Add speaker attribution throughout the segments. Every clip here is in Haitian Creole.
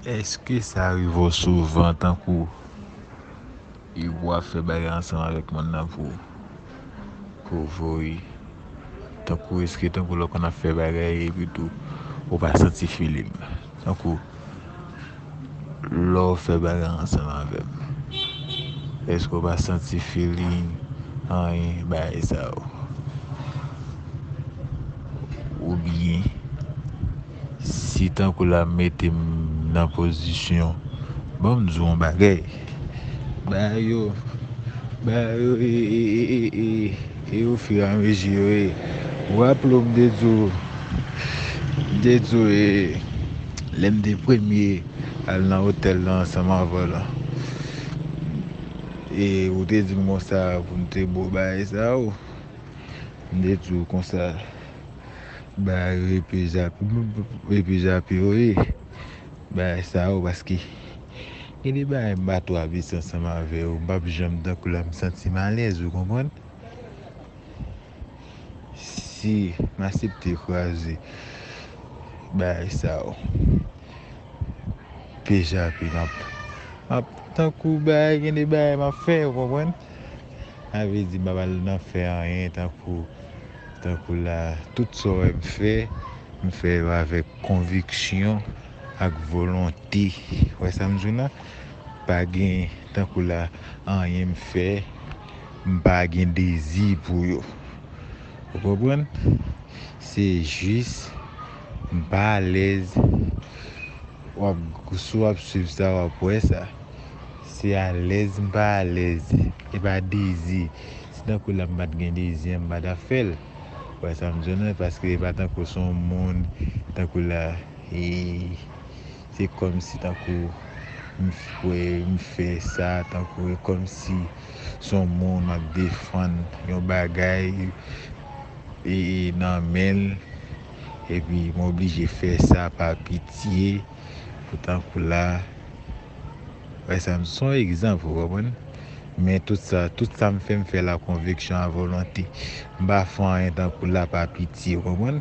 Speaker 1: Eske sa rive w souvan tankou e w ap fè bagay ansanm avèk moun nan pou pou voye tankou eske tankou lè w konn ap fè bagay epitou ou pa santi feeling tankou. Lè w fè bagay ansanm avè m èske w pa santi feeling anyen bagay sa yo oubyen si tankou la m mete m nan pozisyon ban m di w yon bagay. Bagay yo Bagay yo e e e e e o fur et à mesure yo e Ou raple w m te di w M te di w e Lè m te premye al nan otèl lan ansanm avè w lan E ou te di m konsa pou m te bo bagay sa yo M te di w konsa Bagay yo e pi zap e pi zap yo e Bagay sa yo paske Gen de bagay m pa twavèse ansanm avè yo, m pap janm tankou la, m santim alèz ou konprann. Si m asepte kraze bagay sa yo, pe jape m ap, m ap tankou bagay gen de bagay m ap fè ou konprann. Sa vle di m pap al nan fè anyen tankou, tankou la, tout sa w wè m fè, m fè yo avèk konviksyon. ak volonte wè sam jwenn la pa gen tankou la anyen m fè m pa gen dezi pou yo ou konprann se jis m pa alèz wap si wap swiv sa wap wè sa se alèz m pa alèz e pa dezi si tankou la m pat gen dezi an m pa ta fèl wè sam jwenn la paske e pa tankou son moun tankou la. E se kòmsi tankou m fè, m fè sa, tankou e kòmsi s on moun m ap defann yon bagay e nan men l, epi m oblije fè sa pa pitye pou tankou la, wè sa m, s on egzanp ou konprann, men tout sa, tout sa m fè m fè l a konviksyon, a volonte, m pa fè anyen tankou la pa pitye ou konprann.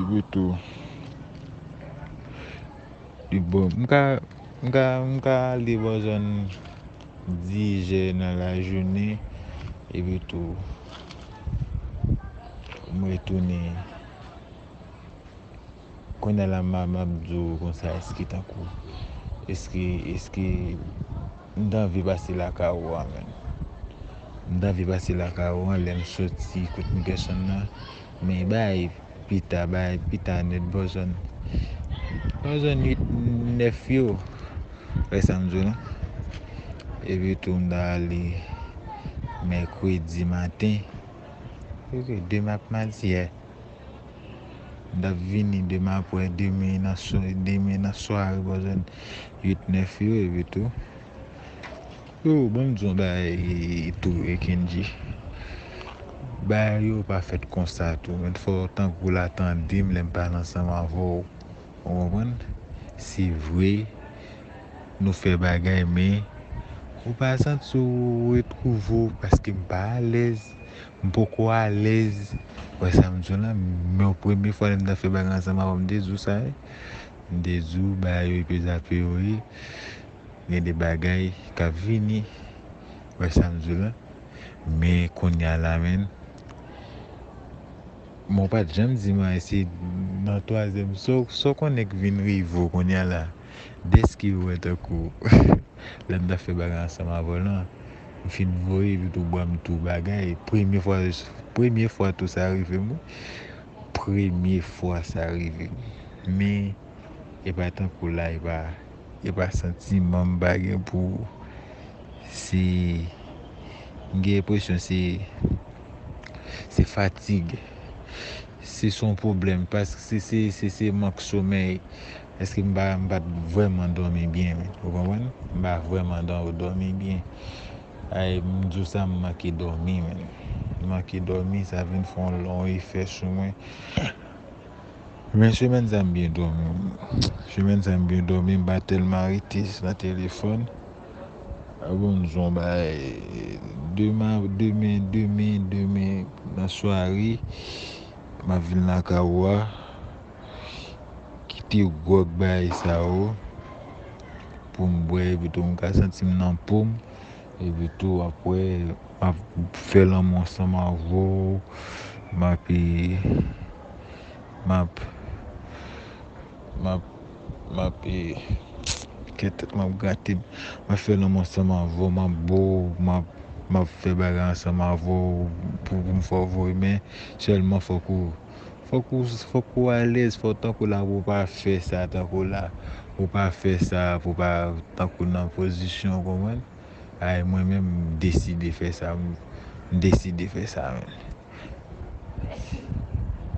Speaker 1: Ibeto li bon m ka m ka m ka ale bò zòn dijè nan lajounen epi tou m retounen konnye la m ap m ap di w konsa èske tankou èske èske m ta anvi pase lakay ou a menm m ta anvi pase lakay ou a lè m soti kot m dèsann nan Men bay pita bay pita net bòzòn bòzòn 8 9 yo wè sam di w non epi tou m ta ale mèkredi maten epi demen ak madi yè m tap vini demen apwè demen nan demen nan sware bòzòn 8 9 yo epi tou Freo banm diyon bagay tou Kendji bagay yo pa fèt konsa tou men fò tankou w la tandem lèm pale ansanm avèw ou konprann se vre nou fè bagay men ou pa santi w retwouve w paske m pa alèz m poko alèz ou wè sam diw la men premye fwa lèm ta fè bagay ansanm avèw m te diw sa m te diw bagay yo e pezapeyo ye. Gen de bagay kap vini wè sam diw la men kounya la menn men ou pat janm dim anyen se nan twazyèm sa w konnen k vin rive w kounya la dèske ou wè tankou lèm tap fè bagay ansanm avèw lan m fin voye li tou banm tou bagay premye fwa premye fwa tou sa rive m wi premye fwa sa rive m men epa tankou la epa. E pa santiman m pa gen pou ou. Se m gen enpresyon se se fatig. Se s on pwoblèm pask se se se se mank somèy. Paske m pa m pa t vrèman dòmi byen. Ou konprann? M pa vrèman dò dòmi byen. Ay m di w sa m manke dòmi menn. Manke dòmi sa vin fè on efè sou mwen. Men semèn sa m byen dòmi wi. Semèn sa m byen dòmi m pa tèlman rete nan telefòn. A bon m son bagay deman demen demen demen nan sware m ap vin lakay ou a kite gwòg bagay sa yo pou m bwè epitou m ka santi m nan po m. Epi tou apre map fè lanmou ansanm avè w, map map map kè tèt mwen ap grate m, map fè lanmou ansanm avè w, map bo w, map fè bagay ansanm avè w pou m fè w voye men, sèlman fòk ou. Fòk ou fòk ou alèz fòk tankou la pou pa fè sa tankou la pou pa fè sa pou pa tankou nan pozisyon konprann ay mwen menm m deside fè sa m deside fè sa menm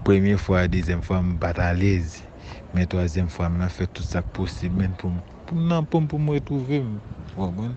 Speaker 1: premye fwa dezyèm fwa m pat alèz men twazyèm fwa m nan fè tout sa k posib menn pou m pou m nan poum pou m retwouve m ou konprann.